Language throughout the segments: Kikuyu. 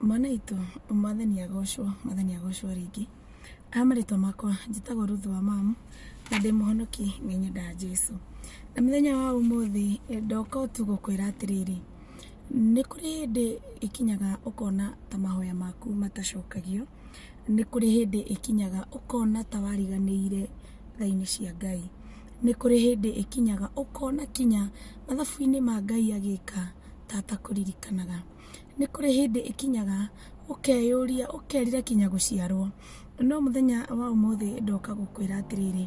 mwana itũ mwathani agocwo mwathani agocwo rĩngĩ aya marĩtwa makwa njĩtagwo ruthu wa mamu na ndĩ mũhonoki nĩ nyendaga jesu na mũthenya wa ũmũthĩ eh, ndoka tu gũkwĩra atĩrĩrĩ nĩ kũrĩ hĩndĩ ĩkinyaga ũkona ta mahoya maku matacokagio nĩ kũrĩ hĩndĩ ĩkinyaga ũkona ta wariganĩire thainĩ cia ngai nĩ kũrĩ hĩndĩ ĩkinyaga ũkona kinya mathabu-inĩ ma ngai agĩka tata kũririkanaga nĩ kũrĩ hĩndĩ ĩkinyaga ũkeyũria, ũkerira kinya gũciarwo. No mũthenya wa ũmũthĩ ndoka gũkwĩra atĩrĩrĩ,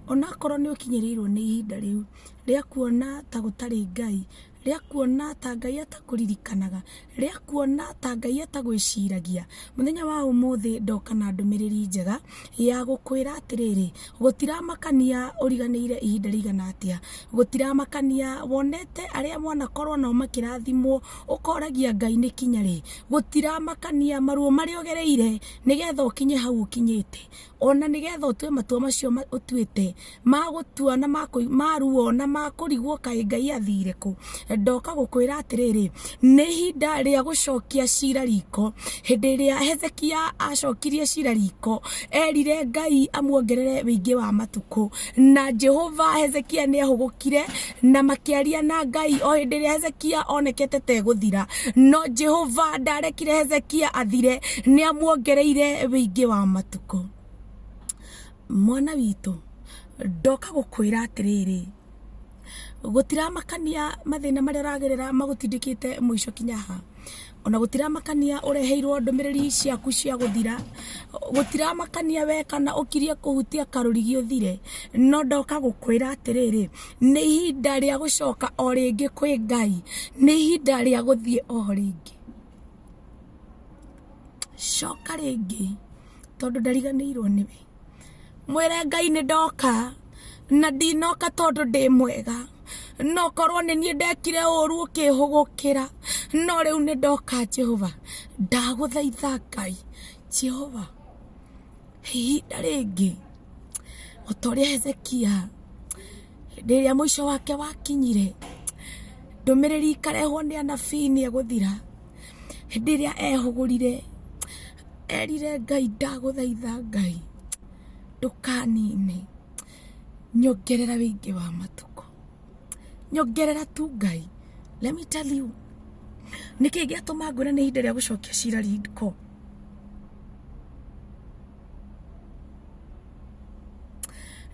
onakorwo nĩ ũkinyĩrĩirwo nĩ ihinda rĩu rĩa kuona ta gũtarĩ Ngai, rĩa kuona ta Ngai atakũririkanaga, rĩa kuona ta Ngai atagwĩciragia, mũthenya wa ũmũthĩ ndoka na ndũmĩrĩri njega. ya gũkwĩra atĩrĩrĩ gũtiramakania ũriganĩire ihinda rĩigana atĩa gũtiramakania wonete arĩa mwanakorwo nao makĩrathimwo ũkoragia ngai nĩ kinya rĩ gũtiramakania maruo marĩa ũgereire nĩgetha ũkinye hau ũkinyĩte ona nĩgetha ũtue matua macio ma- ũtuĩte magũtua na makũ- maruo na makũrigwo kaĩ ngai athire kũ ndoka gũkwĩra atĩrĩrĩ nĩ ihinda rĩa gũcokia cira riko hĩndĩ ĩrĩa hezekia acokirie cira riko erire ngai amuongerere wĩingĩ wa matukũ na jehova hezekia nĩ ahũgũkire na makĩaria na ngai o hĩndĩ ĩrĩa hezekia onekete tegũthira no jehova ndarekire hezekia athire nĩ amuongereire wĩingĩ wa matukũ mwana witũ ndoka gũkwĩra atĩrĩrĩ gũtiramakania mathĩna marĩa ũragerera magũtindĩkĩte mũico kinya ha ona gũtiramakania ũreheirwo ndũmĩrĩri ciaku cia gũthira gũtiramakania we kana ũkirie kũhutia karũrigi ũthire no ndoka gũkwĩra atĩrĩrĩ nĩ ihinda rĩa gũcoka o rĩngĩ kwĩ ngai nĩ ihinda rĩa gũthiĩ o rĩngĩ coka rĩngĩ tondũ ndariganĩirwo nĩwe mwĩre ngai nĩ ndoka na ndinoka tondũ ndĩ mwega no korwo nĩ niĩ ndekire ũru ũkĩhũgũkĩra no rĩu nĩ ndoka jehova ndagũthaitha ngai jehova ihinda rĩngĩ o ta ũrĩa hezekia hĩndĩ ĩrĩa mũico wake wakinyire ndũmĩrĩri ikarehwo nĩ anabii nĩ egũthira hĩndĩ ĩrĩa ehũgũrire erire ngai ndagũthaitha ngai ndũkanine nyongerera wĩingĩ wa matukũ nyongerera tu ngai let me tell you nĩkĩ gĩatũma ngwĩra nĩ ihinda rĩa gũcokia cira riko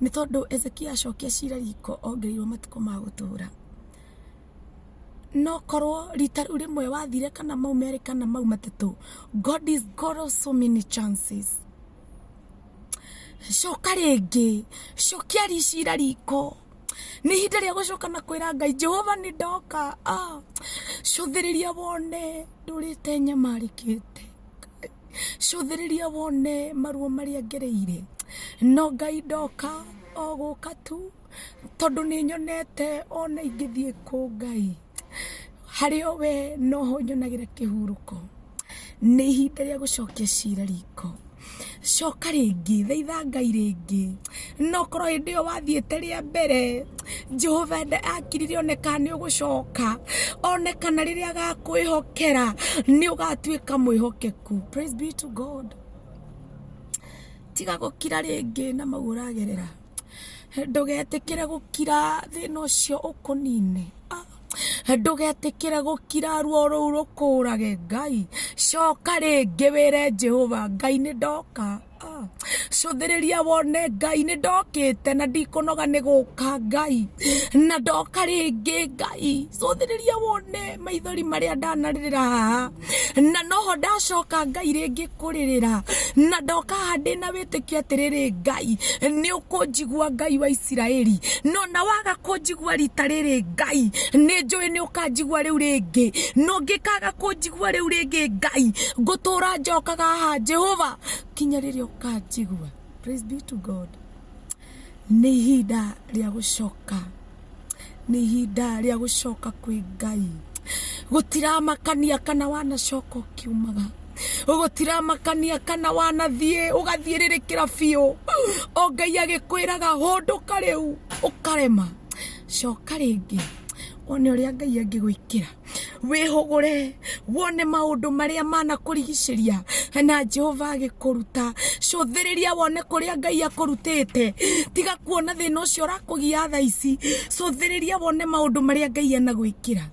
nĩ tondũ ezekia acokia cira riko ongereirwo matukũ ma gũtũra no korwo rita rĩu rĩmwe wathire kana mau merĩ kana mau matatũ god is god of so many chances coka rĩngĩ cokia ricira riko nĩ ihinda rĩa gũcoka na kwĩra ngai jehova nĩ ndoka ah, cũthĩrĩria wone ndũrĩte nyamarĩkĩte cũthĩrĩria wone maruo marĩa ngereire no ngai ndoka o gũka tu tondũ nĩ nyonete ona ingĩthiĩ kũ ngai harĩ o we noho nyonagĩra kĩhurũko nĩ ihinda rĩa gũcokia cira riko coka rĩngĩ thaitha ngai rĩngĩ nokorwo hĩndĩ ĩyo wathiĩte rĩa mbere jehova nda- akirire oneka nĩ ũgũcoka onekana rĩrĩa agakwĩhokera nĩ ũgatuĩka mwĩhokeku praise be to god tiga gũkira rĩngĩ na mau ũragerera ndũgetĩkĩre gũkira thĩna ũcio ũkũnine Ah, ndũgetĩkĩre gũkira ruo rũu rũkũrage ngai coka rĩngĩ wĩre jehova ngai nĩ ndoka Ah, cũthĩrĩria wone ngai nĩ ndokĩte na ndikũnoga nĩ gũka ngai na ndoka rĩngĩ ngai cũthĩrĩria wone maithori marĩa ndanarĩrĩra haha na noho ndacoka ngai rĩngĩ kũrĩrĩra na ndoka haha ndĩ na wĩtĩkio atĩrĩrĩ ngai nĩ ũkũnjigua ngai wa isiraeli no na waga kũnjigua rita rĩrĩ ngai nĩ njũĩ nĩ ũkanjigua rĩu rĩngĩ no ngĩkaga kũnjigua rĩu rĩngĩ ngai ngũtũra njokaga haha jehova kinya rĩrĩa ũkanjigua praise be to god nĩ ihinda rĩa gũcoka nĩ ihinda rĩa gũcoka kwĩ ngai gũtiramakania kana wanacoka ũkiumaga gũtiramakania kana wanathiĩ ũgathiĩrĩrĩkĩra biũ o ngai agĩkwĩraga hũndũka rĩu ũkarema coka rĩngĩ one ũrĩa ngai angĩgwĩkĩra wĩhũgũre wone maũndũ marĩa manakũrigicĩria na jehova agĩkũruta cũthĩrĩria wone kũrĩa ngai akũrutĩte tiga kuona thĩna ũcio ũrakũgia tha ici cũthĩrĩria wone maũndũ marĩa ngai anagwĩkĩra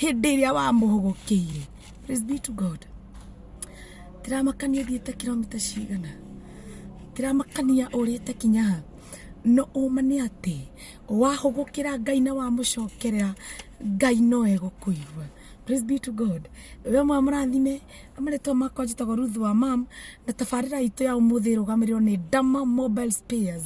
hĩndĩ ĩrĩa wamũhũgũkĩire Praise be to god tiramakania thiĩte kilomita cigana tiramakania ũrĩte kinyaha no ũma nĩ atĩ wahũgũkĩra ngai na wamũcokerera ngai no egũkũigua praise be to god we mwa mũrathime amarĩtwa makwa njĩtagwo ruth wa mam na tabarĩra itũ ya ũmũthĩ ĩrũgamĩrĩrwo nĩ dama mobile spares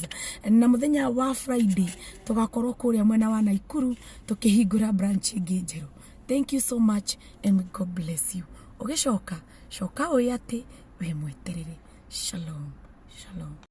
na mũthenya wa friday tũgakorwo kũrĩa mwena wa naikuru tũkĩhingũra branch ĩngĩ njerũ thank you so much and may god bless you ũgĩcoka coka ũĩ atĩ wĩ mweterere shalom shalom